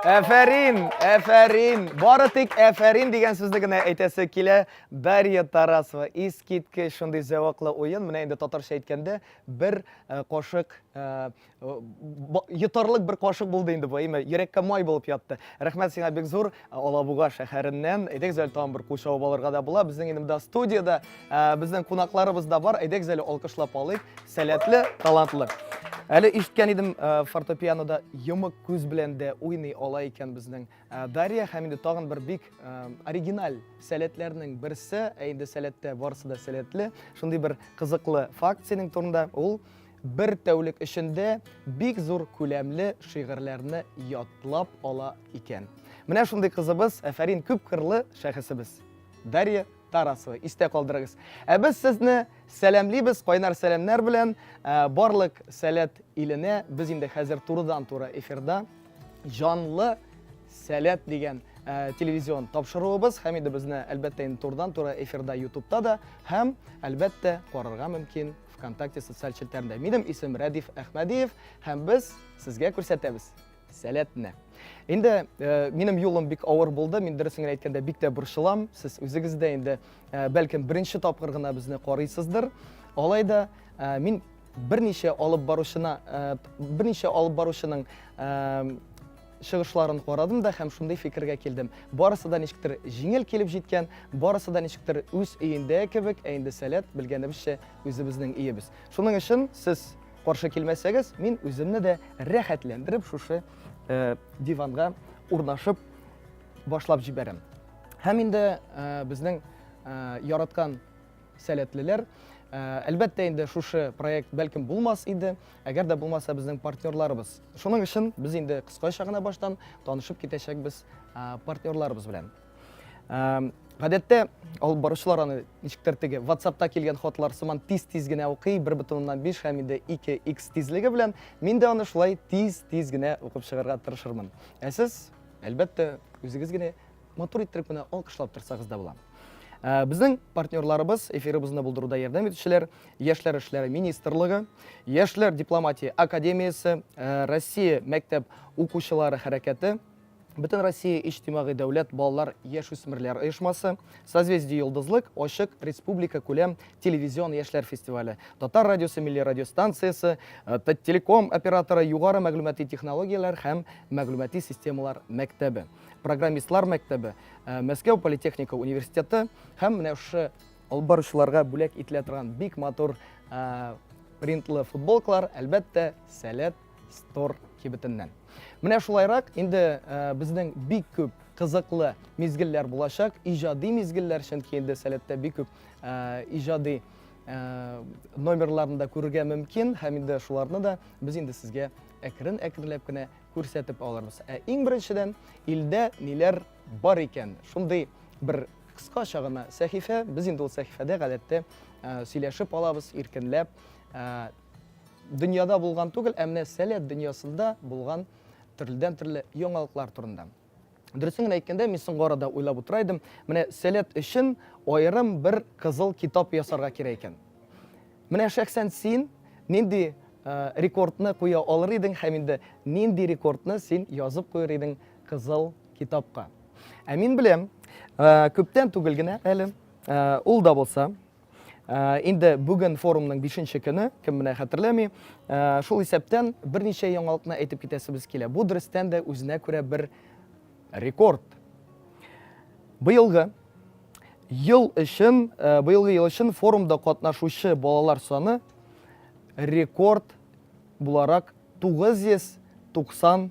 Әфәрин, әфәрин. Бары тик әфәрин дигән сүзне генә әйтәсе килә. Дарья Тарасова, искиткеч шундый зәвыклы уен. Менә инде татарча әйткәндә, бер э, кошык э, э, йотарлык бер кошык булды инде бу, әйме, йөрәккә май булып ятты. Рәхмәт сиңа бик зур. Алабуга шәһәреннән. Әйдәгез әле тагын бер кул чабып алырга да була. Безнең инде монда студиядә ә, безнең кунакларыбыз да бар. Әйдәгез әле алкышлап алыйк. Сәләтле, талантлы. Әле ишеткән идем, ә, фортепианода йомык күз белән дә уйный ала икән безнең ә, Дарья һәм инде тагын бер бик ә, оригиналь сәләтләрнең берсе, ә инде сәләттә барысы да сәләтле. Шундый бер кызыклы факт синең турында. Ул Бер тәүлек эчендә бик зур күләмле шигырьләрне ятлап ала икән. Менә шундый кызыбыз, әфәрин күп кырлы шәхесебез. Дарья Тарасова, истә калдырыгыз. Ә без сезне сәламлибез, кайнар сәламнәр белән ә, барлык сәләт иленә. Без инде хәзер турыдан-туры эфирда җанлы сәләт дигән Э, телевизион тапшыруыбыз һәм инде безне әлбәттә инде турыдан-туры эфирда ютубта да һәм әлбәттә карарга мөмкин Вконтакте социаль челтәрендә. Минем исем Рәдиф Әхмәдиев һәм без сезгә күрсәтәбез сәләтне. Инде э, минем юлым бик авыр булды, мин дөресен генә әйткәндә бик тә борчылам. Сез үзегез дә инде э, бәлкем беренче тапкыр гына безне карыйсыздыр. Алай да э, мин берничә алып баручына, э, берничә алып баручының э, чыгышларын карадым да һәм шундый фикергә килдем. Барысы да ничектер җиңел килеп җиткән, барысы да ничектер үз өендә кебек, ә инде сәләт, белгәнебезчә, үзебезнең иебез. Шуның өчен сез каршы килмәсәгез, мин үземне дә рәхәтләндереп шушы э, диванга урнашып башлап җибәрәм. Һәм инде э, безнең э, яраткан сәләтлеләр. Ә, әлбәттә инде шушы проект бәлкем булмас иде, әгәр дә булмаса безнең партнерларыбыз. Шуның өчен без инде кыскача гына баштан танышып китәчәкбез ә, партнерларыбыз белән. Ә, Гадәттә алып баручылар аны ничектер теге WhatsAppта килгән хатлар сыман тиз-тиз генә укый, 1.5 һәм инде 2x тизлеге белән. Мин дә аны шулай тиз-тиз генә укып чыгарга тырышырмын. Ә сез, әлбәттә, үзегез генә Матур иттереп менә алкышлап торсагыз да була. Ә, безнең партнерларыбыз, эфирыбызны булдыруда ярдәм итүчеләр, Яшьләр эшләре министрлыгы, Яшьләр дипломатия академиясе, ә, Россия мәктәп укучылары хәрәкәте, Бөтен Россия иҗтимагый дәүләт балалар яшүсмерләр оешмасы, Созвездие Йолдызлык, Ачык республика күләм телевизион яшьләр фестивале, Татар радиосы милли радиостанциясе, э, Таттелеком операторы, Югары мәгълүмати технологияләр һәм мәгълүмати системалар мәктәбе. программистлар мәктәбе, э, Мәскәү политехника университеты һәм менә шушы алып баручыларга бүләк ителә торган бик матур э, принтлы футболкалар, әлбәттә, Сәләт стор кибетеннән. Менә шулайрак инде э, безнең бик күп кызыклы мизгелләр булачак, иҗади мизгелләр, чөнки инде Сәләттә бик күп иҗади номерларында күрергә мөмкин һәм инде шуларны да без инде сезгә әкрен-әкренләп кенә күрсәтеп алырбыз. Ә иң беренчедән, илдә ниләр бар икән? Шундый бер кыскача гына сәхифә. Без инде ул сәхифәдә гадәттә сөйләшеп алабыз, иркенләп. Дөньяда булган түгел, ә менә сәләт дөньясында булган төрледән төрле яңалыклар турында. Дөресен генә әйткәндә, мин соңгы арада уйлап утыра идем, менә сәләт өчен аерым бер кызыл китап ясарга кирәк икән. Менә шәхсән син нинди э, рекордны куя алыр идең һәм инде нинди рекордны син язып куер идең кызыл китапка? Ә мин беләм, э, күптән түгел генә әле, э, ул да булса, Э, инде бүген форумның бишенче көне, кем менә хәтерләми, э, шул исәптән берничә яңалыкны әйтеп китәсебез килә. Бу дөрестән дә үзенә күрә бер рекорд. Быелгы ел өчен, э, быелгы ел өчен форумда катнашучы балалар саны рекорд буларак 990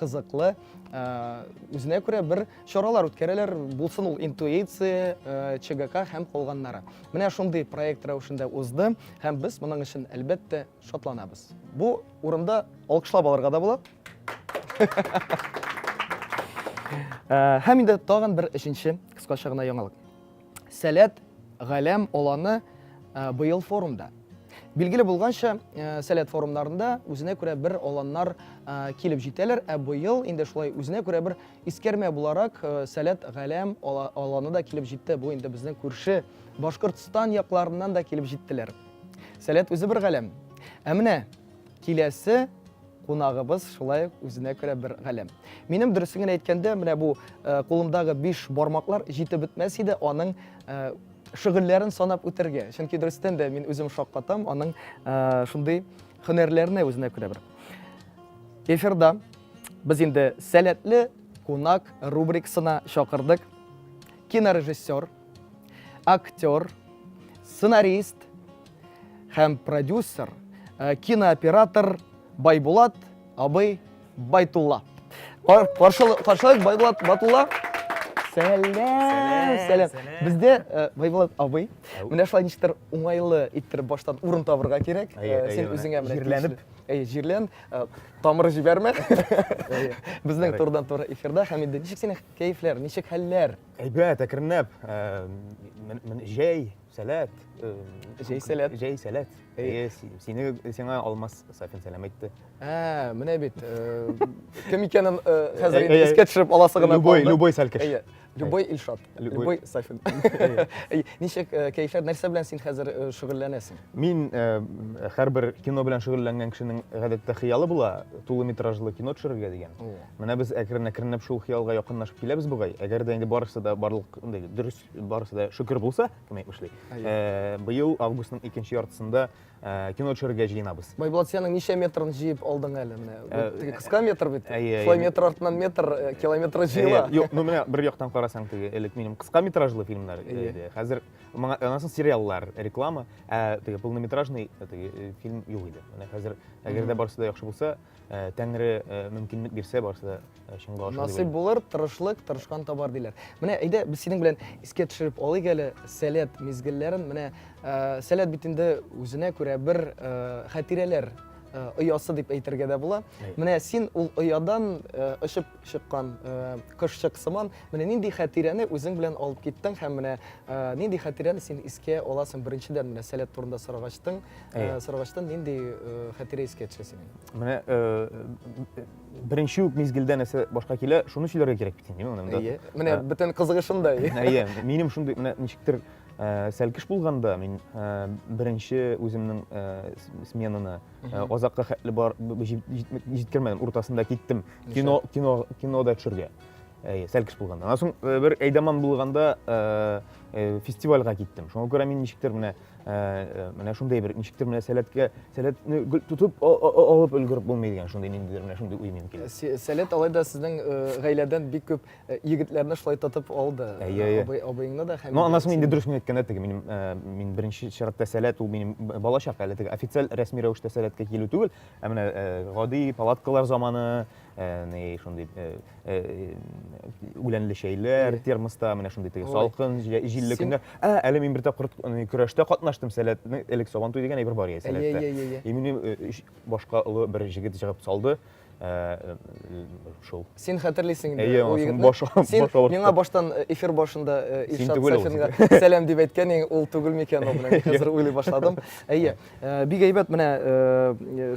кызыклы, э, үзенә күрә бер чаралар үткәрәләр, булсын ул интуиция, э, ЧГК һәм калганнары. Менә шундый проект рәвешендә узды һәм без моның өчен әлбәттә шатланабыз. Бу урында алкышлап алырга да була. Э, һәм инде тагын бер өченче кыскача гына яңалык. Сәләт Галәм аланы э, быел форумда. Билгеле булганча, э, сәләт форумнарында үзенә күрә бер аланнар э, килеп җитәләр, ә быел инде шулай үзенә күрә бер искәрмә буларак э, сәләт галәм аланы да килеп җитте. Бу инде безнең күрше Башкортстан якларыннан да килеп җиттеләр. Сәләт үзе бер галәм. Ә менә киләсе Кунагыбыз шулай ук үзенә күрә бер галәм. Минем дөресен генә әйткәндә, менә бу э, кулымдагы биш бармаклар җитеп бетмәс иде аның э, шөгыльләрен санап үтәргә. Чөнки дөрестән дә мин үзем шаккатам аның э, шундый һөнәрләренә үзенә күрә бер. Эфирда без инде сәләтле кунак рубрикасына чакырдык. Кинорежиссер, актер, сценарист, һәм продюсер, э, кинооператор Байбулат абый Байтулла. Каршылык Байбулат Батулла. Сәләм, сәләм. Бездә э, Байбулат абый, менә шулай ничектер уңайлы иттереп баштан урын табырга кирәк. Э, син үзеңә менә җирләнеп, әй, җирлән, э, тамыры җибәрмә. Безнең турдан туры эфирда һәм инде ничек синең кәефләр, ничек хәлләр? Әйбәт, әкренләп. Җәй Сәләт. Э, Җәй сәләт. Җәй сәләт. Әйе. Э, си- Сине сиңа Алмаз Сафин сәлам әйтте. Ә, менә бит. э, Кем икәнен э, хәзер Әй, инде әй, искә төшереп аласы гына Любой, калды. любой сәлкеш. Әйе. Любой Илшат. Любой. Любой Сафин. Әйе. Ничек э, кәефләр, нәрсә белән син хәзер э, шөгыльләнәсең? Мин э, һәрбер кино белән шөгыльләнгән кешенең гадәттә хыялы була, тулы метражлы кино төшерергә дигән. Менә без әкрен-әкренләп шул хыялга якынлашып киләбез бугай. Әгәр дә инде барысы да барлык андай дөрес барысы да шөкер булса, кем әйтмешли. Э, быел августның икенче яртысында э, кино төшерергә җыенабыз. Байбулат, синең ничә метрын җыеп алдың әле менә? Э, теге кыска метр бит. Шулай метр артыннан метр километр җыела. Юк, ну менә бер яктан карасаң теге элек минем кыска метражлы фильмнар иде. Хәзер моңа аннан сериаллар, реклама, ә теге полнометражный теге фильм юк иде. Менә хәзер әгәр дә барысы да яхшы булса, Э, тәңре э, мөмкинлек бирсә барысы да э, чынга ашыр насыйп булыр тырышлык тырышкан табар диләр менә әйдә без синең белән искә төшереп алыйк әле сәләт мизгелләрен менә сәләт бит инде үзенә күрә бер хәтирәләр оясы дип әйтергә дә була менә син ул оядан очып чыккан кошчык сыман менә нинди хәтирәне үзең белән алып киттең һәм менә нинди хәтирәне син искә аласың беренчедән менә сәләт турында сорагачтың Э, Сарвачтан нинди э, хәтирә искә төшә синең? Менә э, беренче үк мизгелдә нәрсә башка килә, шуны сөйләргә кирәк бит инде монда. Әйе. Менә бөтен кызыгы шунда. Әйе. Минем шундый менә ничектер сәлкеш булганда мин беренче үземнең сменаны азакка хәтле бар җиткермәдем, уртасында киттем. Кино кино кинода төшергә. Әйе, сәлкеш булганда. Аннан соң бер әйдаман булганда фестивальгә киттем. Шуңа күрә мин ничектер менә Ә, менә шундый бер ничектер менә сәләткә сәләтне гел тотып а- а- а- алып өлгереп булмый дигән шундый ниндидер менә шундый уй минем килә. Сә- Сәләт алай да сезнең э, гаиләдән бик күп э, егетләрне шулай тотып алды. Әйе, әйе. Абый, абыеңны да һәм... Ну, анасын инде дөрес мин әйткәндә теге минем ә, мин беренче чиратта сәләт ул минем б- балачак әле теге официаль рәсми рәвештә сәләткә килү түгел, ә менә ә, гади палаткалар заманы, ни шундый үләнле чәйләр термоста менә шундый теге салкын җилле көннәр ә әле мин бер тапкыр көрәштә катнаштым сәләтне элек сабантуй дигән әйбер бар иде сәләттә и минем башка олы бер җегет җыгып салды шул син хәтерлисең инде әйе ул егетне син миңа баштан эфир башында илшат сафинга сәлам дип әйткән ең ул түгел микән ул менә хәзер уйлый башладым әйе бик әйбәт менә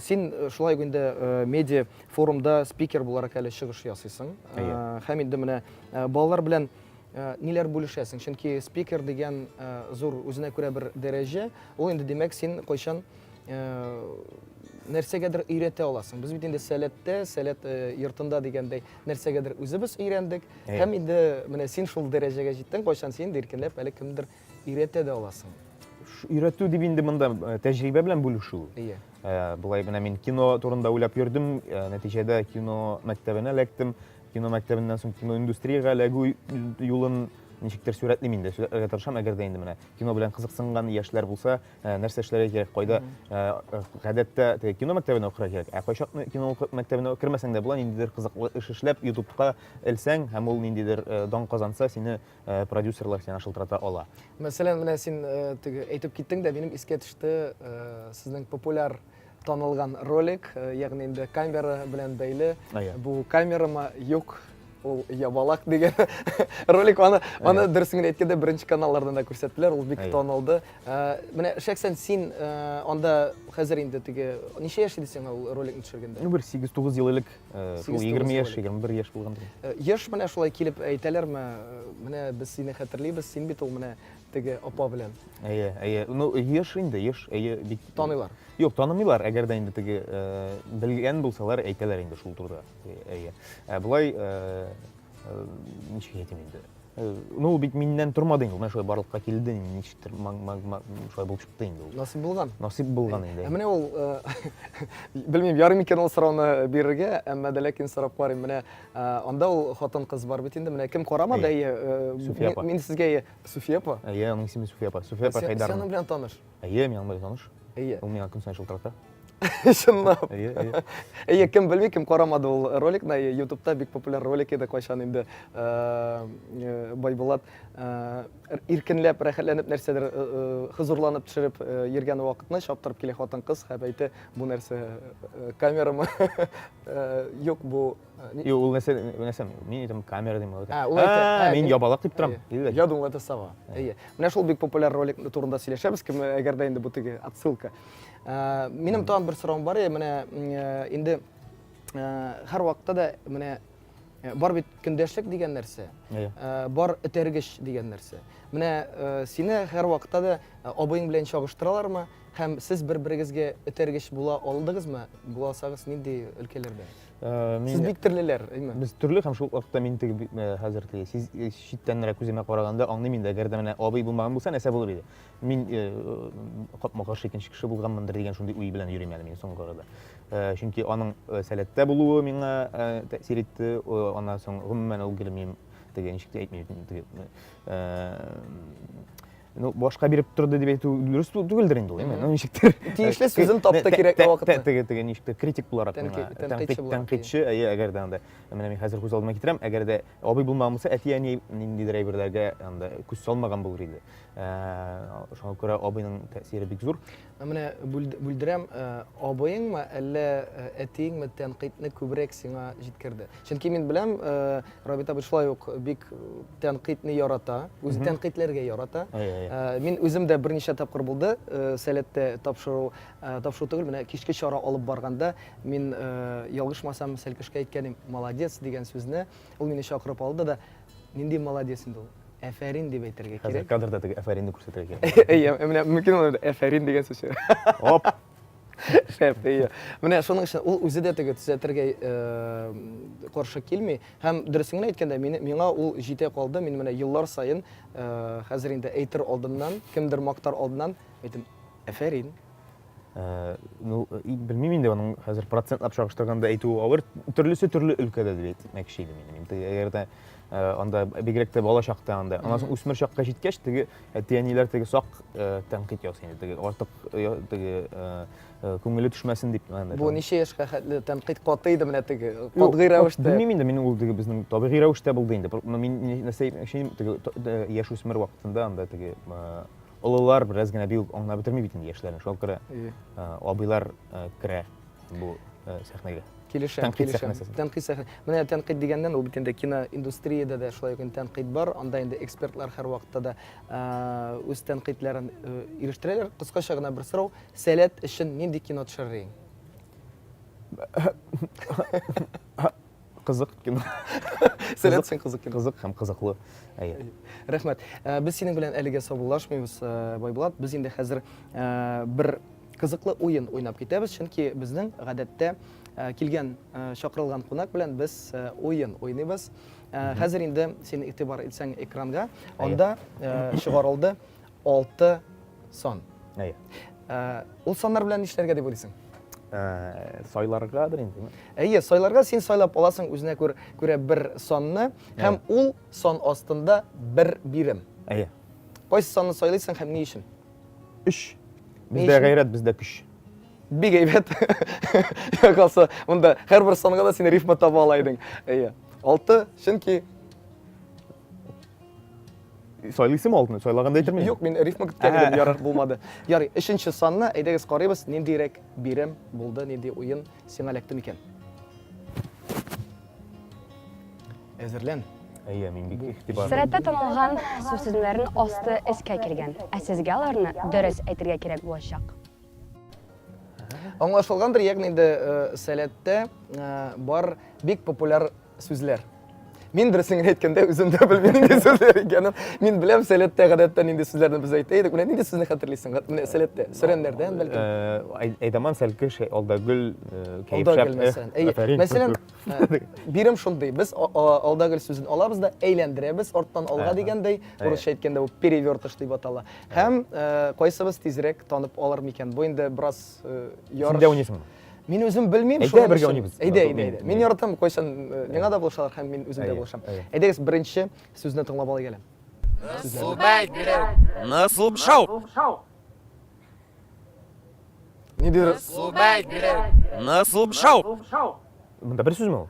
син шулай инде медиа форумда спикер буларак әле чыгыш ясыйсың. Әйе. Э, һәм инде менә э, балалар белән э, ниләр бүлешәсең? Чөнки спикер дигән зур үзенә күрә бер дәрәҗә. Ул инде димәк син кайчан нәрсәгәдер өйрәтә аласың. Без бит инде сәләттә, сәләт йортында дигәндәй нәрсәгәдер үзебез өйрәндек. Һәм инде менә син шул дәрәҗәгә җиттең, кайчан син иркенләп әле кемдер Өйрәтә дә аласың. Өйрәтү дип инде монда э, тәҗрибә белән бүлешү. Ие. Э, Болай гына мин кино турында уйлап йөрдем, э, нәтиҗәдә кино мәктәбенә эләктем. Кино мәктәбеннән соң кино индустриягә эләгү юлын ничектер сурәтлим инде, сурәтләргә тырышам, әгәр дә инде менә кино белән кызыксынган яшьләр булса, ә, нәрсә эшләргә кирәк, кайда ә, гадәттә теге кино мәктәбенә укырга кирәк, ә кайчак кино уку- мәктәбенә кермәсәң дә була, ниндидер кызыклы эш эшләп, ютубка элсәң, һәм ул ниндидер э, дан казанса, сине э, продюсерлар сиңа шылтырата ала. Мәсәлән, менә син э, теге әйтеп киттең дә, минем искә төште э, сезнең популяр танылган ролик, э, ягъни инде камера белән бәйле. А, я. Бу камерама юк, ул ябалак дигән ролик аны аны Әйе. дөресен генә әйткәндә беренче каналлардан да күрсәттеләр, ул бик Әйе. танылды. Э, Менә шәхсән син э, анда хәзер инде теге ничә яшь иде сиңа ул роликны төшергәндә? Ну, бер 8-9 ел элек Шул 20 яшь, 21 яшь булганда. Яшь менә шулай килеп әйтәләрме? Менә без сине хәтерлибез, син бит ул менә теге апа белән. Әйе, әйе. Ну, яшь инде, яшь, әйе, бик. Таныйлар. Юк, танымыйлар, әгәр дә инде теге белгән булсалар, әйтәләр инде шул турыда. Әйе. Ә болай ничек әйтим инде ну ул бит миннән тормады инде ул менә шулай барлыкка килде ничектер шулай булып чыкты инде ул насыйп булган насыйп булган инде ә менә ул белмим ярый микән ул сорауны бирергә әмма дә ләкин сорап карыйм менә анда ул хатын кыз бар бит инде менә кем карамады әйе суфия апа мин сезгә суфия апа әйе аның исеме суфия апа суфия апа хәйдәрова син аның белән таныш Әйе, мин аңлай таныш. Әйе. Ул миңа көн сайын шылтырата. Чынлап. Әйе, әйе. Әйе, кем белми, кем карамады ул роликны, әйе, ютубта бик популяр ролик иде кайчан инде э, э, Байбулат э, иркенләп, рәхәтләнеп нәрсәдер хозурланып төшереп йөргән вакытны чаптырып килә хатын-кыз һәм әйтә, бу нәрсә камерамы? Юк, бу Юк, ул нәрсә, нәрсә, мин әйтәм, камера дим. Ә, ул әйтә, ә, мин ябалак дип торам. Әйе. Я думал, это сова. Әйе. Менә шул бик популяр ролик турында сөйләшәбез, кем әгәр дә инде бу теге отсылка. Ә, минем тагын бер соравым бар, е, менә э, инде э, һәр вакытта да менә э, бар бит көндәшлек дигән нәрсә. Әйе. Ә, бар этәргеч дигән нәрсә. Менә э, сине һәр вакытта да э, абыең белән чагыштыралармы? Һәм сез бер-берегезгә этәргеч була алдыгызмы? Буласагыз, нинди өлкәләрдә? Э, сез бик төрлеләр әйме без төрле һәм шул вакытта мин теге э, хәзер теге сез э, читтәнрәк күземә караганда аңлыйм инде әгәр дә менә абый булмаган булса нәрсә булыр иде мин капма каршы икенче кеше булганмындыр дигән шундый уй белән йөрим әле мин соңгы арада чөнки аның сәләттә булуы миңа тәэсир итте аннан соң гомумән ул гөлмим теге ничек тә әйтмим теге ну башка биреп торды дип әйтү дөрес түгелдер инде ул эми ну ничектер тиешле сүзен тапты кирәк вакытта теге теге ничектер критик буларак тәнкыйтьче әйе әгәр дә анда менә мин хәзер күз алдыма китерәм әгәр дә абый булмаган булса әти әни ниндидер әйберләргә анда күз салмаган булыр иде шуңа күрә абыйның тәэсире бик зур Ә менә бүлдерәм, э, абыеңмы, әллә э, әтиеңме тәнкыйтьне күбрәк сиңа җиткерде? Чөнки мин беләм, э, Рабит абый шулай ук бик тәнкыйтьне ярата, үзе тәнкыйтьләргә ярата. Мин үзем дә берничә тапкыр булды, сәләттә тапшыру, тапшыру түгел, менә кичке чара алып барганда мин ялгышмасам Сәлкешкә әйткәнем, молодец дигән сүзне, ул мине чакырып алды да, Нинди молодец инде ул. Әфәрин дип әйтергә кирәк. Хәзер кадрда теге әфәринне күрсәтергә кирәк. Әйе, менә мөмкин ул әфәрин дигән сүз. Оп. Шәп, әйе. Менә шуның өчен ул үзе дә теге төзәтергә э, каршы килми. Һәм дөресен генә әйткәндә, миңа ул җитә калды. Мин менә еллар саен э, хәзер инде әйтер алдымнан, кемдер мактар алдыннан әйтем, әфәрин. Э, ну, белмим инде аның хәзер процентлап чагыштырганда әйтү авыр төрлесе төрле өлкәдә дип әйтмәкче идем мин инде әгәр дә э, анда бигрәк тә бала чакта анда аннан соң үсмер чакка җиткәч теге әти әниләр теге сак э, тәнкыйть ясый инде теге артык теге күңеле төшмәсен дип бу ничә яшькә хәтле тәнкыйть каты иде менә теге катгый рәвештә белмим инде мин ул теге безнең табигый рәвештә булды инде мин нәрсә яшь үсмер вакытында анда теге Олылар бераз генә бию аңлап бетерми бит инде яшьләрне. Шуңа күрә абыйлар керә бу сәхнәгә. Килешәм, килешәм. Тәнкыйть сәхнә. Менә тәнкыйть дигәннән ул бит инде киноиндустриядә дә шулай ук тәнкыйть бар. Анда инде экспертлар һәрвакытта да үз тәнкыйтьләрен ирештерәләр. Кыскача гына бер сорау, сәләт өчен нинди кино төшерер идең? Кызык кино. Сәләт син кызык кино. Кызык һәм кызыклы. Әйе. Рәхмәт. Э, без синең белән әлегә саубуллашмыйбыз, э, Байбулат. Без инде хәзер э, бер кызыклы уен уйнап китәбез, чөнки безнең гадәттә килгән чакырылган кунак белән без уен уйныйбыз. Хәзер инде син игътибар итсәң экранга, анда чыгарылды Алты сан. Әйе. Ә, ул саннар белән нишләргә дип уйлыйсың? Ә, сайларгадыр инде. Әйе, сайларга син сайлап аласың үзенә күр, күрә бер санны һәм ул сан астында бер бирем. Әйе. Кайсы санны сайлыйсың һәм ни өчен? Өч. Бездә гайрәт, бездә көч. Бик әйбәт. Якалса, монда һәрбер санга да син рифма таба ала идең. Әйе. Алты, чөнки Сайлыйсым алдын, сайлаганда әйтермен. Юк, мин рифма көткән идем, ярар булмады. Ярый, өченче санны әйдәгез карыйбыз, ниндирәк бирем булды, нинди уен сиңа эләкте микән? Әзерлән. Әйе, мин бик игътибарлы. Сәләттә танылган сүз сүзләрен асты эскә килгән. Ә сезгә аларны дөрес әйтергә кирәк булачак. Аңлашылгандыр, ягъни инде э, сәләттә э, бар бик популяр Сүзләр. Мин берсен генә әйткәндә үзем дә белмим нинди сүзләр икәнен. Мин беләм сәләттә гадәттә нинди сүзләрне без әйтә идек. Менә нинди сүзне хәтерлисең? Менә сәләттә. Сөрәннәрдән бәлки. Э, Әйдаман сәлке шәй алда гөл э, кәеф шәп. Мәсәлән, әйе. Мәсәлән, э, бирем шундый. Без алда гөл сүзен алабыз да әйләндерәбез арттан алга дигәндәй. Урысча әйткәндә бу перевертыш дип атала. Һәм кайсыбыз тизрәк танып алыр микән? Бу инде бераз ярыш. Син дә уйныйсыңмы? Мин үзем белмим. Әйдә бергә уйныйбыз. Әйдә, әйдә, әйдә. Мин яратам, кайчан э, миңа да булышалар һәм мин үзем дә булышам. Әйдәгез, беренче сүзне тыңлап алайык әле. Субай бирер. Насуб шау. Ни дидер? Субай бирер. Насуб шау. Монда бер сүзме ул?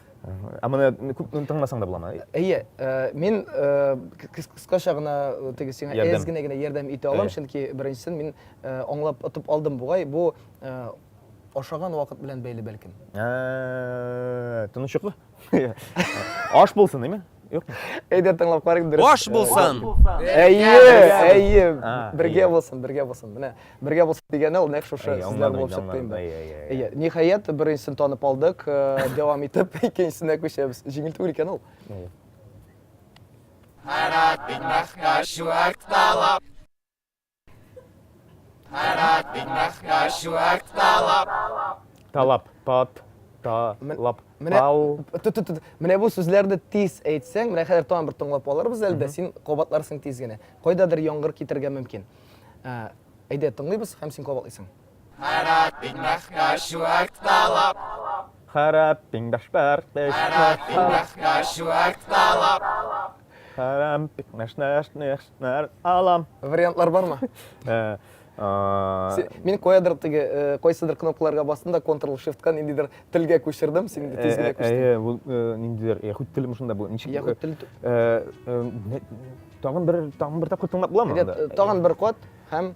Ә моны күп тыңласаң да буламы? Әйе, мин кыскача гына теге сиңа әз генә генә ярдәм итә алам, чөнки беренчесен мин аңлап отып алдым бугай, бу ашаган вакыт белән бәйле бәлкем. Тынычлык. Аш булсын, дими. Әйдә тыңлап карыйк дөрес. Баш булсын. Әйе, әйе. Бергә булсын, бергә булсын. Менә бергә булсын дигәне ул нәкъ шушы сүзләр булып чыкты инде. Әйе, ниһаять беренчесен танып алдык. Дәвам итеп икенчесенә күчәбез. Җиңел түгел икән ул. Харап итмәскә чүәк талап. Тарат бинмахка шуак талап. Талап, тат, та, лап, Менә, тау. ту, ту, ту, менә бу сүзләрне тиз әйтсәң, менә хәзер тагын бер тыңлап алырбыз әле дә, син кабатларсың тиз генә. Кайдадыр яңгыр китергә мөмкин. Ә, Әйдә, тыңлыйбыз һәм син кабатлыйсың. Харап пин бахкашу акталап. Харап пин башпар теш. Харап пин бахкашу акталап. Харам пик наш наш наш нар алам. Вариантлар бармы? Э, Мин куядыр теге э, кайсыдыр кнопкаларга бастым да Ctrl Shift ка ниндидер телгә күчердем, син инде тиз генә күчтең. Әйе, бу э, ниндидер яһүд теле мышында бу. Ничек? Яһүд теле. Э, тагын бер тагын бер тапкыр тыңлап буламы? Тагын бер код һәм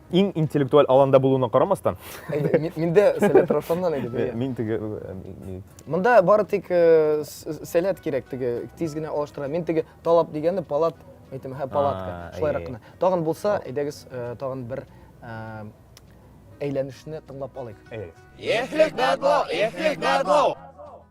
Иң интеллектуаль аланда булуына карамастан. Мин дә сәләт Равшаннан идем. Э, мин теге э, Монда бары тик э, сәләт кирәк теге тиз генә алыштыра. Мин теге талап дигәнне палат әйтәм, һә палатка. Шулайрак кына. Тагын булса, әйдәгез тагын бер әйләнешне тыңлап алыйк. Әйдәгез. Ехлек бәдло, ехлек бәдло.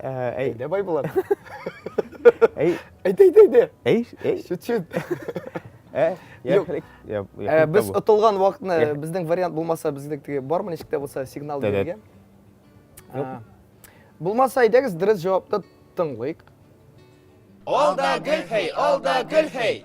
әйдә байбулат әйдә әйдә әйдә әй әй чүт чүт без отылган вакытны безнең вариант булмаса безнең теге бармы ничек тә булса сигнал бирергә булмаса әйдәгез дөрес җавапны тыңлыйк алда гөлхәй алда гөлхәй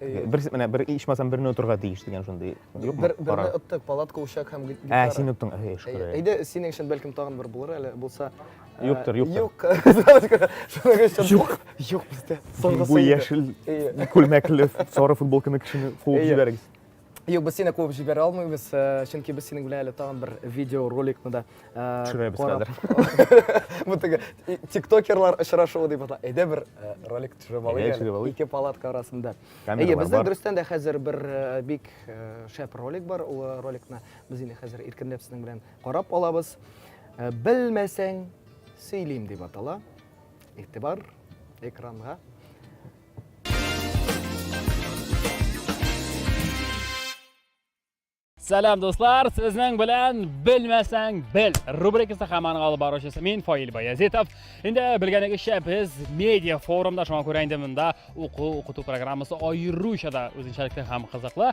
Бер менә бер ичмасам берне отырга тиеш дигән шундый. Юкмы? Бер берне оттык, палатка ушак һәм гитара. Ә, син оттың. Әй, шкура. Әйдә, синең өчен бәлкем тагын бер булыр әле, булса. Юктыр, юктыр. Юк. Шуның өчен юк. Юк бездә. Соңгысы. Бу яшел күлмәкле сары футболканы кешене куып җибәрегез. Юк, без сине куып җибәрә алмыйбыз, чөнки без синең белән әле тагын бер видеороликны да төшерәбез хәзер. Бу теге тиктокерлар очрашуы дип атала. Әйдә бер ролик төшереп алыйк әле. Ике палатка арасында. Әйе, бездә дөрестән дә хәзер бер бик шәп ролик бар. Ул роликны без инде хәзер иркенләп сезнең белән карап алабыз. Белмәсәң, сөйлим дип атала. Игътибар экранга. Сәлам дуслар, сезнең белән белмәсәң бел. Рубрикасы хаман алып баручысы мин Фаил Баязитов. Инде белгәнегезчә без медиа форумда шуңа күрә инде монда уку укыту программасы аеруча да үзенчәлекле һәм кызыклы.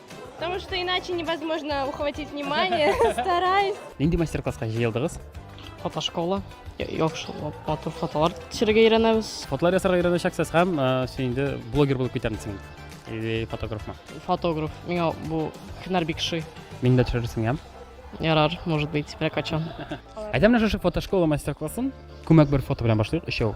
Потому что иначе невозможно ухватить внимание. Стараюсь. Нинди мастер-класска җыелдыгыз? Фотошкола. Яхшы матур фотолар төшерергә өйрәнәбез. Фотолар ясарга өйрәнәчәксез һәм син инде блогер булып китәрсең. Или фотографмы? Фотограф. Миңа бу һөнәр бик шый. Мин дә төшерерсең, я? Ярар, может быть, бер качан. Әйдә менә шушы фотошкола мастер-классын күмәк бер фото белән башлыйк, өчәү.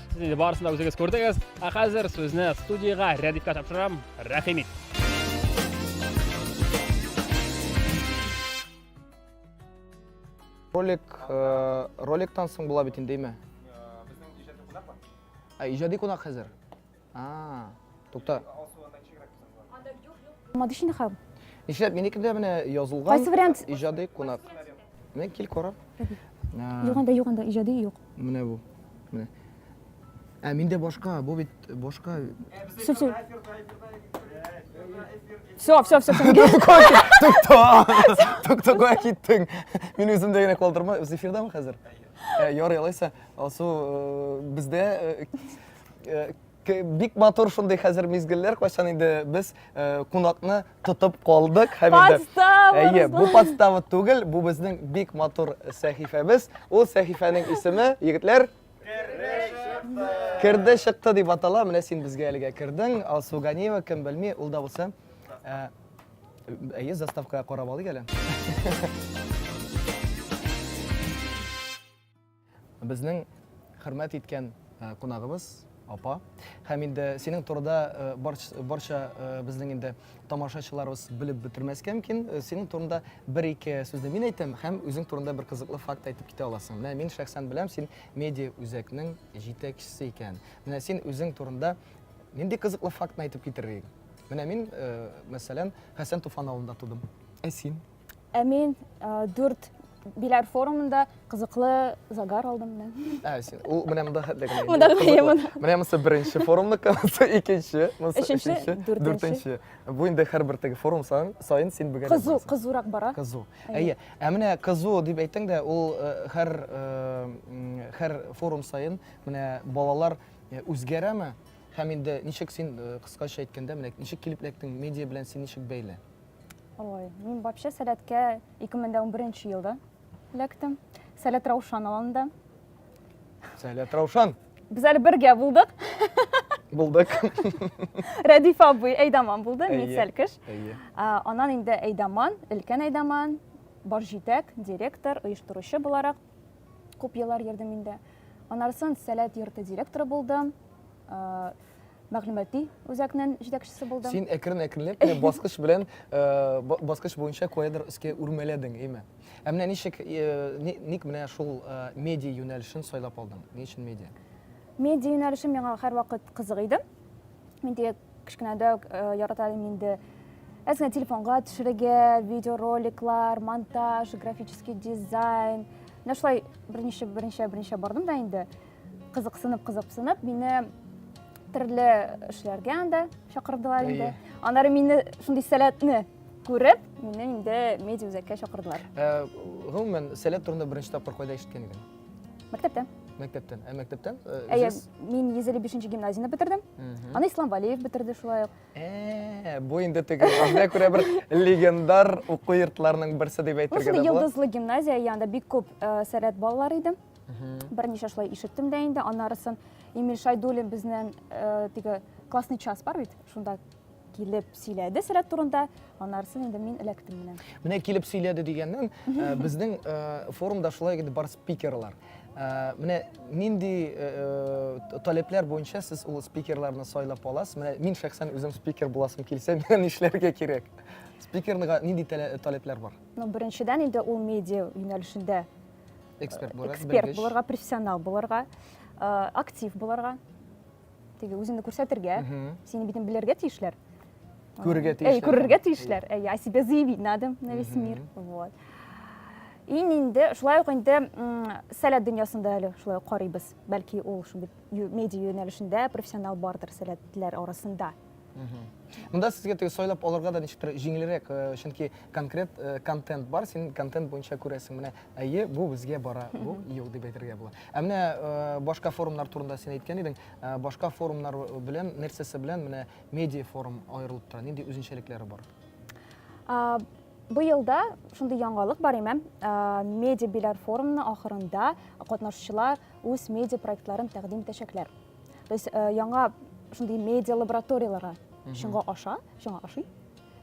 Сез инде барысын да үзегез күрдегез. Ә хәзер сүзне студиягә Рәдифкә тапшырам. Рәхим ит. Ролик, э, роликтан соң була бит инде, әйме? Ә иҗади кунак хәзер. А. Тукта. Булмады шундый хәл. Нишләп минеке дә менә язылган. Кайсы вариант? Иҗади кунак. Менә кил кара. Юк анда, юк анда, иҗади юк. Менә бу. Менә. Ә миндә башка, бу бит башка. Все, все. Все, все, все. Тукта. Тукта кая киттең? Мин үзем дә генә калдырма. Үз эфирдамы хәзер? Ярый, алайса, Алсу, бездә Бик матур шундый хәзер мизгелләр, кайчан инде без э, кунакны тотып калдык һәм инде Подстава, Әйе, бу Руслан. подстава түгел, бу безнең бик матур сәхифәбез. Ул сәхифәнең исеме, егетләр, Керде чыкты дип атала. Менә син безгә әлегә кердең. Алсу Ганиева, кем белми, ул да булса. Ә, Әйе, заставкага карап алыйк әле. Безнең хөрмәт иткән кунагыбыз апа. Һәм инде синең турыда барча безнең инде тамашачыларыбыз белеп бетермәскә мөмкин. Синең турында бер-ике сүзне мин әйтәм һәм үзең турында бер кызыклы факт әйтеп китә аласың. Менә мин шәхсән беләм, син медиа үзәкнең җитәкчесе икән. Менә син үзең турында нинди кызыклы фактны әйтеп китерер идең? Менә мин, мәсәлән, Хәсән Туфан авылында тудым. Ә син? Ә мин дүрт Биләр форумында кызыклы загар алдым мен. Ә, син, ул менә монда хәтле генә. Монда генә монда. Менә монысы беренче форумныкы, монысы икенче, монысы өченче, дүртенче. Бу инде һәрбер теге форум саен, саен син бегә. Кызу, кызурак бара. Кызу. Әйе. Ә менә кызу дип әйтсәң дә, ул һәр һәр форум саен менә балалар үзгәрәме? Һәм инде ничек син кыскача әйткәндә, менә ничек килеп эләктең, медиа белән син ничек бәйле? Ой, мин вообще сәләткә 2011 елда эләктем. Сәләт Раушан алында. Сәләт Раушан. Без әле бергә булдык. Булдык. Рәдиф абый Әйдаман булды, мин Сәлкеш. Анан инде Әйдаман, өлкән Әйдаман, бар җитәк, директор, оештыручы буларак күп еллар йөрдем инде. Анарсын Сәләт йорты директоры булдым. мәгълүмати үзәкнең җитәкчесе булдым. Син әкрен-әкренләп кенә баскыч белән э, баскыч буенча каядыр өскә үрмәләдең, әйме? Ә менә ничек э, ник менә шул э, медиа юнәлешен сайлап алдың? Ни өчен медиа? Медиа юнәлеше миңа һәрвакыт кызык иде. Мин дә кечкенәдә үк ярата идем инде әзгә телефонга төшерергә, видеороликлар, монтаж, графический дизайн. Менә шулай берничә берничә берничә бардым да инде. Кызыксынып, кызыксынып, мине төрле эшләргә анда чакырдылар инде. Аннары мине шундый сәләтне күреп, мине инде медиа үзәккә чакырдылар. Э, гомумән, сәләт турында беренче тапкыр кайда ишеткән идең? Мәктәптән. Мәктәптән. Ә мәктәптән? Э, Әйе, мин 155 гимназияне бетердем. Аны Ислам Валиев бетерде шулай ук. Ә, бу инде теге анда күрә бер легендар уку йортларының берсе дип әйтергә дә була. Ул йолдызлы гимназия, янда бик күп э, сәләт балалар иде. Берничә шулай ишеттем дә инде, аннарысын Эмиль Шайдуллин безнен э, теге классный час бар бит, шунда килеп сөйләде сәләт турында, аннарысын инде мин эләктем менә. Менә килеп сөйләде дигәннән, э, безнең э, форумда шулай иде бар спикерлар. Э, менә нинди э, э, таләпләр буенча сез ул спикерларны сайлап аласыз? Менә мин шәхсән үзем спикер буласым килсә, миңа нишләргә кирәк? Спикерлыга нинди таләпләр бар? Ну, беренчедән инде ул медиа юнәлешендә эксперт булырга эксперт булырга профессионал булырга э, актив булырга теге үзеңне күрсәтергә сине битен белергә тиешләр күрергә тиешләр әй күрергә тиешләр әй о себе заявить надо на весь мир вот ин инде шулай ук инде сәләт дөньясында әле шулай карыйбыз бәлки ул шундый медиа юнәлешендә профессионал бардыр сәләтләр арасында мында сезгә теге сайлап алырга да ничектер җиңелрәк чөнки э, конкрет э, контент бар син контент буенча күрәсең менә әйе бу безгә бара бу юк дип әйтергә була ә менә э, башка форумнар турында син әйткән идең башка форумнар белән нәрсәсе белән менә медиа форум аерылып тора нинди үзенчәлекләре бар быелда шундый яңалык бар имәм медиа биләр форумның ахырында катнашучылар үз медиа проектларын тәкъдим итәчәкләр То есть э, яңа шундый медиа лабораторияләргә шуңа аша, шуңа ашый.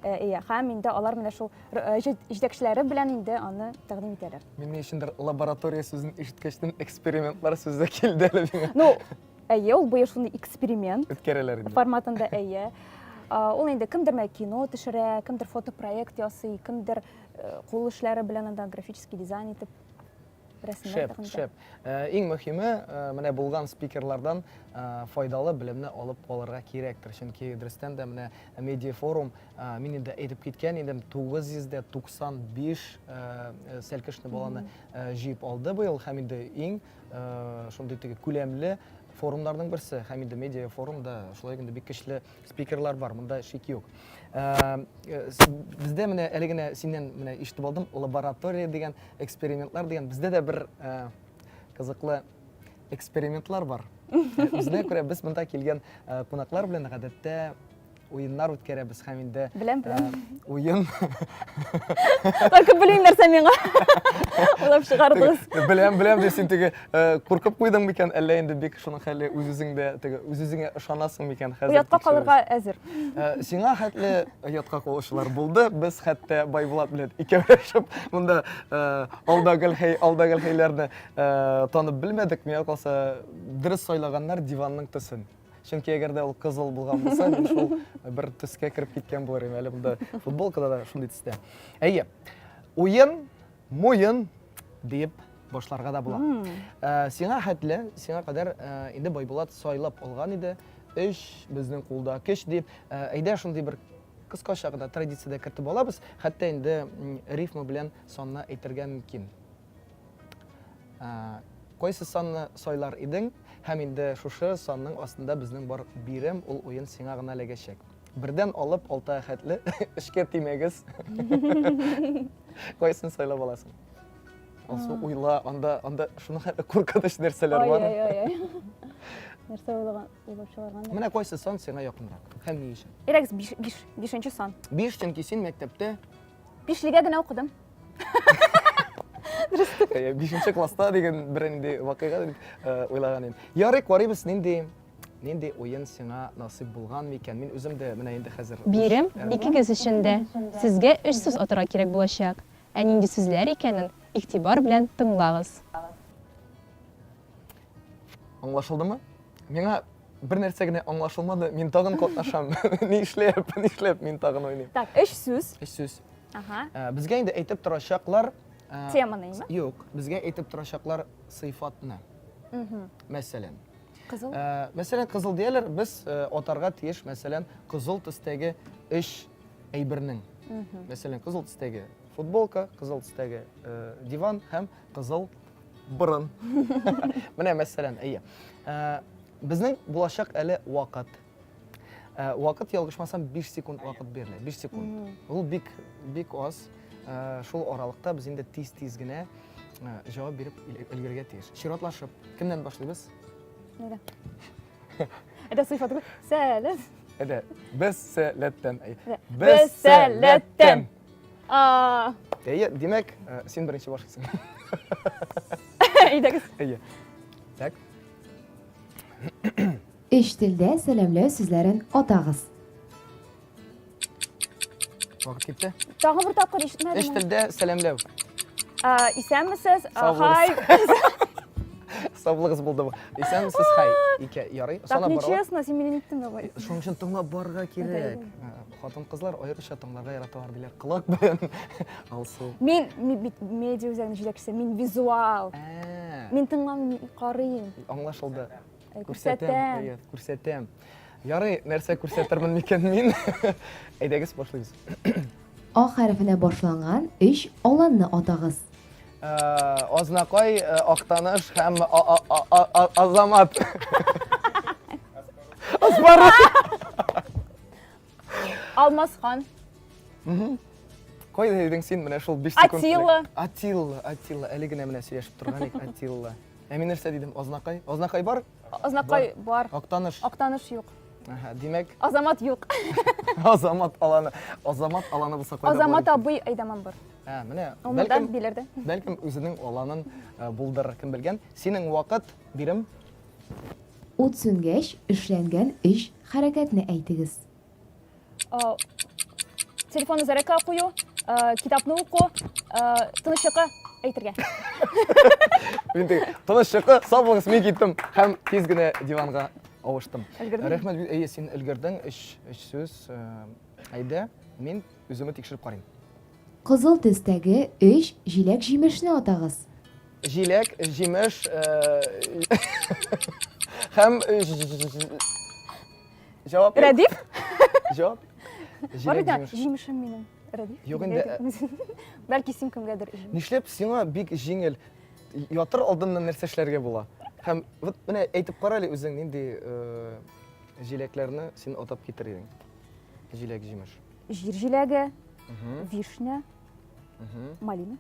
Э, иә, һәм инде алар менә шул э, җитәкчеләре белән инде аны тәкъдим итәләр. Мин ни өчендер лаборатория сүзен ишеткәчтен экспериментлар сүзе килде әле миңа. Ну, әйе, ул быел шундый эксперимент. Үткәрәләр инде. Форматында әйе. Ул инде кемдер менә кино төшерә, кемдер фотопроект ясый, кемдер э, кул эшләре белән анда графический дизайн итеп Шәп, шәп. Э, иң мөхиме, э, менә булган спикерлардан э, файдалы белемне алып калырга кирәктер. Чөнки дөрестән дә менә медиа форум, мин инде әйтеп киткән идем, 995 сәлкешне баланы җыеп алды быел һәм инде иң шундый теге күләмле форумнарның берсе һәм инде медиа форумда шулай инде бик көчле спикерлар бар, монда шик юк. Э, э, бездә менә әле генә синнән менә ишетеп алдым, лаборатория дигән, экспериментлар дигән. Бездә дә бер э, кызыклы экспериментлар бар. Үзенә күрә без монда килгән кунаклар белән гадәттә уеннар үткәрәбез һәм инде беләм беләм уен только белмим нәрсә миңа уйлап чыгардыгыз беләм беләм дип син теге Э, куркып куйдың микән әллә инде бик шуның хәле үз үзеңдә теге үз үзеңә ышанасың микән хәзер оятка калырга әзер э, сиңа хәтле оятка калучылар булды без хәтта байбулат белән икәүләшеп монда э, алда гел хәй алда гел хәйләрне танып белмәдек миңа калса дөрес сайлаганнар диванның төсен чөнки әгәр дә ул кызыл булган булса мин шул бер төскә кереп киткән булыр идем әле монда футболкада да шундый төстә әйе уен Муен диеп башларга да була. Э, сиңа хәтле, сиңа кадәр э, инде Байбулат сайлап алган иде. Өч безнең кулда көч дип, э, әйдә шундый бер кыскача гына традициядә кертеп алабыз, хәтта инде рифма белән санны әйтергә мөмкин. Ә, Кайсы санны сайлар идең һәм инде шушы санның астында безнең бар бирем, ул уен сиңа гына эләгәчәк. Бердән алып алты әхәтле эшкә тимәгез. Кайсын сайлап аласың? Алсу уйла, анда анда шуны куркыныч нәрсәләр бар. Ай, ай, ай. Нәрсә уйлаган, уйлап чыгарган. Менә кайсы сан сиңа якынрак? Һәм ни өчен? Ирекс 5 биш, бишенче сан. 5 чөнки син мәктәптә Бишлегә генә укыдым. Бишенче класста дигән бер инде вакыйга дип э, уйлаган идем. Ярый, карыйбыз нинди Нинди уен сиңа насыйп булган микән? Мин үзем дә менә инде хәзер. Бирим, икегез өчен дә. Сезгә өч сүз атарга кирәк булачак. Ә нинди сүзләр икәнен игътибар белән тыңлагыз. Аңлашылдымы? Миңа бер нәрсә генә аңлашылмады, мин тагын катнашам. Ни эшләп, ни эшләп мин тагын уйныйм? Так, өч сүз. Өч сүз. Ага. Э, безгә инде әйтеп торачаклар. Э, Теманы, ме? Юк, безгә әйтеп торачаклар сыйфатны. Мәсәлән. Кызыл? Э, мәсәлән, кызыл дияләр, без э, атарга тиеш, мәсәлән, кызыл төстәге эш әйбернең. Мәсәлән, кызыл төстәге футболка, кызыл төстәге э, диван һәм кызыл борын. Менә мәсәлән, әйе. Э, безнең булачак әле вакыт. Ә, вакыт ялгышмасам 5 секунд вакыт бирелә. 5 секунд. Ул бик бик аз. Ә, шул аралыкта без инде тиз-тиз генә ә, җавап биреп өлгерергә тиеш. Чиратлашып, кемнән башлыйбыз? Нигә? Әдә сыйфат гү. Сәләм. Әдә, без сәләттән. Без сәләттән. А. Әйе, димәк, э, син беренче башлыйсың. Әйдәгез. Әйе. Так. Өч телдә сәламләү сүзләрен атагыз. Вакыт китте. Тагы бер тапкыр ишетмәдем. Өч телдә сәламләү. Исәнмесез, хай. Саулыгыз булды. Исәнмесез, хай. Ике ярый. Так нечестно, син мине иттең давай. Шуның өчен тыңлап барырга кирәк. Хатын-кызлар аеруча тыңларга яраталар диләр. Колак белән алсу. Мин медиа үзәгенең җитәкчесе, мин визуал. Мин тыңламыйм, карыйм. Аңлашылды. Күрсәтәм. Күрсәтәм. Ярый, нәрсә күрсәтермен микән мин? Әйдәгез, башлыйбыз. А хәрефенә башланган өч аланны атагыз. Азнакай, Актаныш һәм Азамат. Аспарыш. Алмасхан. Кайда идең син менә шул 5 секунд? Атилла. Атилла, Атилла. Әле генә менә сөйләшеп торган идек Атилла. Ә мин нәрсә дидем? Азнакай. Азнакай бар? Азнакай бар. Актаныш. Актаныш юк. Аһа, димәк. Азамат юк. Азамат аланы. Азамат аланы булса кайда? Азамат абый Айдаман бар. Ә, менә. Бәлкем билерде. Бәлкем үзенең аланын э, булдырыр, кем белгән. Синең вакыт бирем Ут сүнгәч, эшләнгән өч хәрәкәтне әйтегез. Э, телефонны зарядка кую, э, китапны уку, э, тыныч йокы әйтергә. Мин теге тыныч йокы, сау булыңыз, мин киттем һәм тиз генә диванга авыштым. Өлгердең? Рәхмәт, әйе, син өлгердең. Өч, өч сүз. Әйдә, мин үземне тикшереп карыйм. Кызыл төстәге өч җиләк-җимешне атагыз. Җиләк, җимеш һәм Җавап юк. Рәдиф? Җавап. Бар бит аңа җимешем минем. Рәдиф. Юк инде. Бәлки син кемгәдер. Нишләп сиңа бик җиңел ятыр алдыннан нәрсә эшләргә була? Һәм вот менә әйтеп кара әле үзең нинди җиләкләрне син атап китер идең? Җиләк-җимеш. Җир җиләге, вишня, малина.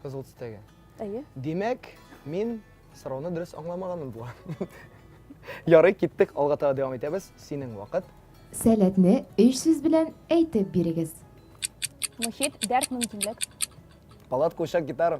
Кызыл төстәге. Әйе. Димәк, мин сорауны дөрес аңламаганым була. Ярый, киттек, алга таба дәвам итәбез. Синең вакыт. Сәләтне өч сүз белән әйтеп бирегез. Мохит, дәрт, мөмкинлек. Палатка, учак, гитара.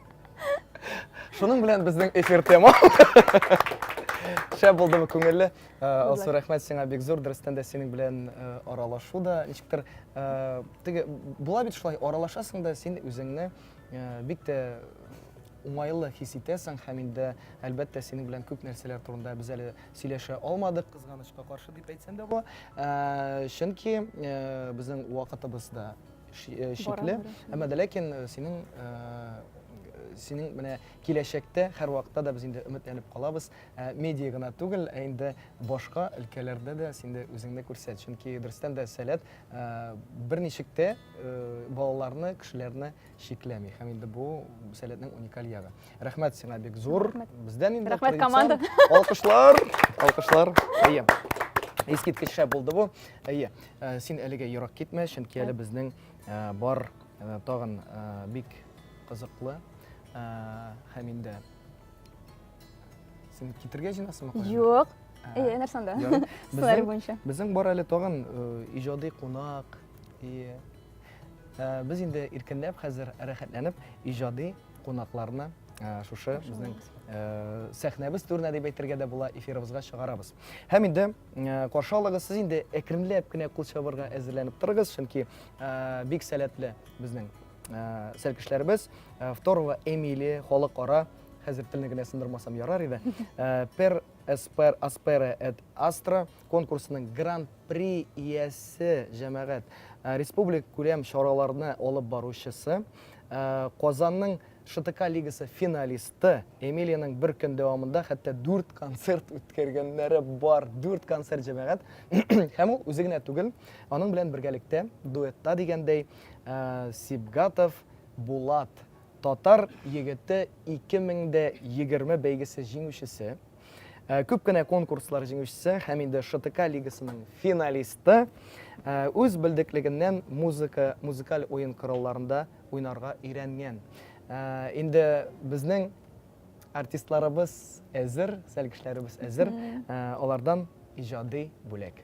Шуның белән безнең эфир тема. Шәп булдымы күңелле? Э, Алсу рәхмәт сиңа бик зур. Дөрестән дә синең белән э, аралашу да ничектер э, теге була бит шулай аралашасың да син үзеңне бик тә уңайлы хис итәсең һәм инде әлбәттә синең белән күп нәрсәләр турында без әле сөйләшә алмадык кызганычка каршы дип әйтсәм дә була чөнки безнең вакытыбыз да э, шикле. Әмма дә ләкин э, синең синең менә киләчәктә һәрвакытта да без инде өметләнеп калабыз. Ә, медиа гына түгел, ә инде башка өлкәләрдә дә син дә үзеңне күрсәт. Чөнки дөрестән дә сәләт ә, берничек тә ә, балаларны, кешеләрне шикләми. Һәм инде бу сәләтнең уникаль ягы. Рәхмәт сиңа бик зур. Бездән инде Рәхмәт команда. Алкышлар, алкышлар. Әйе. Искиткеч шәп булды бу. Әйе. Э, син әлегә ерак китмә, чөнки әле безнең э, бар э, тагын бик кызыклы һәм инде син китергә җыйнасыңмы? Юк. Әйе, нәрсә анда? Сценарий буенча. Безнең бар әле тагын иҗади кунак. Әйе. Без инде иркенләп хәзер рәхәтләнеп иҗади кунакларны шушы безнең сәхнәбез түренә дип әйтергә дә була эфирыбызга чыгарабыз һәм инде каршы алыгыз сез инде әкренләп кенә кул чабарга әзерләнеп торыгыз чөнки бик сәләтле безнең сәлкешләребез второго эмилия халыкара хәзер телне генә сындырмасам ярар иде пер эспер аспера эт астра конкурсының гран при иясе җәмәгать республик күләм чараларны алып баручысы Ә, Казанның ШТК лигасы финалисты Эмилиянең бер көн дәвамында хәтта дүрт концерт үткәргәннәре бар. Дүрт концерт җәмәгать. Һәм ул үзе генә түгел, аның белән бергәлектә дуэтта дигәндәй ә, Сибгатов Булат татар егете 2020 бәйгесе җиңүчесе, Э, күп кенә конкурслар җиңүчесе һәм инде ШТК лигасының финалисты э, үз белдеклегеннән музыка, музыкаль уен коралларында уйнарга өйрәнгән. Э, инде безнең артистларыбыз әзер, сәлкешләребез әзер, алардан иҗади бүләк.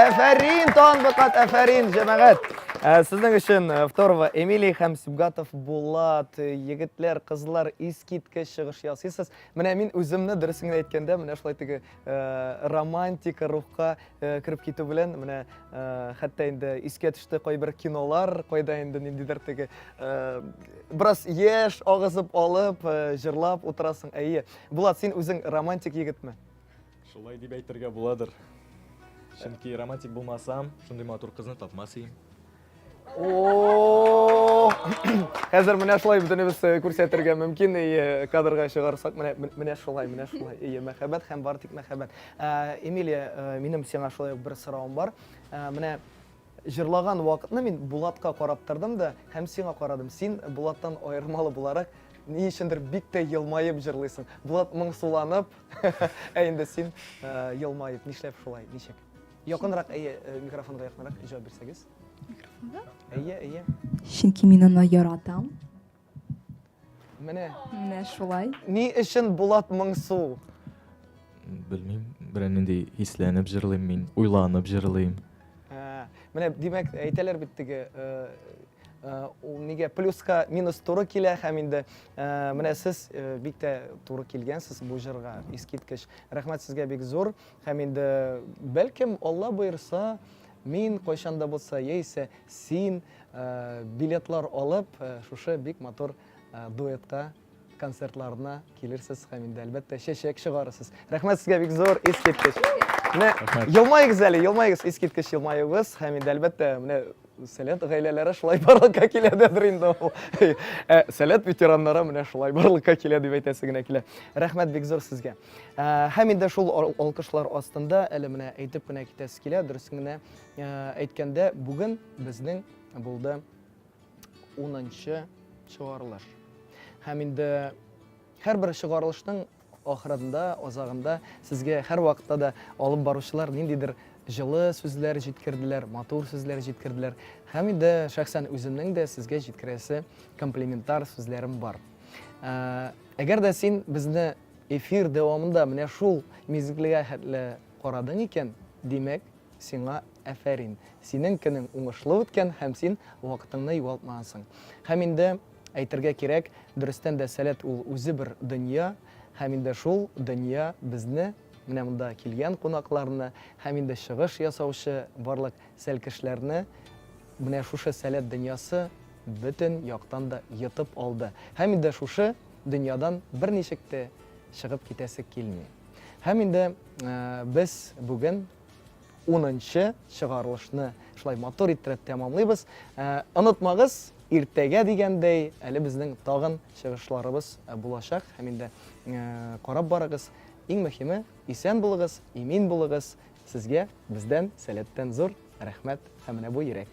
Афәрин, танбыкат, афәрин, җәмәгать. Ә, сезнең өчен э, Второва Эмилий һәм Сибгатов Булат э, егетләр, кызлар искиткеч чыгыш ясыйсыз. Менә мин үземне дөресен генә әйткәндә, менә шулай теге э, романтика рухка э, кереп китү белән, менә э, хәтта инде искә төште кайбер кинолар, кайда инде ниндидер теге бераз яшь агызып алып, җырлап утырасың. Әйе. Булат, син үзең романтик егетме? Шулай дип әйтергә буладыр. Чөнки романтик булмасам, шундый матур кызны тапмас идем. О! Хәзер менә шулай бөтенебез э, күрсәтергә мөмкин. И э, кадрга чыгарсак, менә менә шулай, менә шулай. И мәхәббәт һәм бар тик мәхәббәт. Э, Эмилия, минем сиңа шулай ук бер соравым бар. Менә җырлаган вакытны мин Булатка карап тордым да һәм сиңа карадым. Син Булаттан аермалы буларак ни өчендер бик тә елмаеп җырлыйсың. Булат моңсуланып, ә инде син елмаеп. Нишләп шулай? Ничек? Якынрак, әйе, э, микрофонга якынрак җавап бирсәгез. Микрофонга? Әйе, әйе. Чөнки мин аны яратам. Менә. Менә шулай. Ни өчен Булат Моңсу? Белмим, берәр нинди хисләнеп җырлыйм мин, уйланып җырлыйм. Ә, Менә димәк, әйтәләр бит теге э, э, ул нигә плюска минус туры килә һәм инде э, менә сез э, бик тә туры килгәнсез бу җырга. Искиткеч. Рәхмәт сезгә бик зур. Һәм инде, бәлкем, Алла боерса, мин кайчан да булса, яисә син билетлар алып, шушы бик матур дуэтка концертларына килерсез һәм инде, әлбәттә, чәчәк чыгарырсыз. Рәхмәт сезгә бик зур, искиткеч. Менә елмаегыз әле, елмаегыз, искиткеч елмаюыгыз һәм инде, әлбәттә, менә Сәләт гаиләләре шулай барлыкка килә дәдер инде ул. Ә сәләт ветераннары менә шулай барлыкка килә дип әйтәсе генә килә. Рәхмәт бик зур сезгә. Ә, һәм инде шул алкышлар астында әле менә әйтеп кенә китәсе килә, дөрес генә ә, әйткәндә, бүген безнең булды 10 чыгарылыш. Һәм инде һәрбер чыгарылышның Ахырында, азагында сезгә һәрвакытта да алып баручылар ниндидер җылы сүзләр җиткерделәр, матур сүзләр җиткерделәр. Һәм инде шәхсән үземнең дә сезгә җиткерәсе комплиментар сүзләрем бар. Ә, әгәр дә син безне эфир дәвамында менә шул мизгелгә хәтле карадың икән, димәк, сиңа әфәрин. Синең көнең уңышлы үткән һәм син вакытыңны югалтмагансың. Һәм инде Әйтергә кирәк, дөрестән дә сәләт ул үзе бер дөнья, һәм инде шул дөнья безне, менә монда килгән кунакларны, һәм инде чыгыш ясаучы барлык сәлкешләрне менә шушы сәләт дөньясы бөтен яктан да йотып алды. Һәм инде шушы дөньядан берничек тә чыгып китәсе килми. Һәм инде без бүген Унынчы чыгарылышны шулай матур иттереп тәмамлыйбыз. Ә, онытмагыз, иртәгә дигәндәй, әле безнең тагын чыгышларыбыз ә, булачак һәм инде ә, карап барыгыз. Иң мөһиме, исән булыгыз, имин булыгыз. Сезгә бездән сәләттән зур рәхмәт һәм менә бу йөрәк.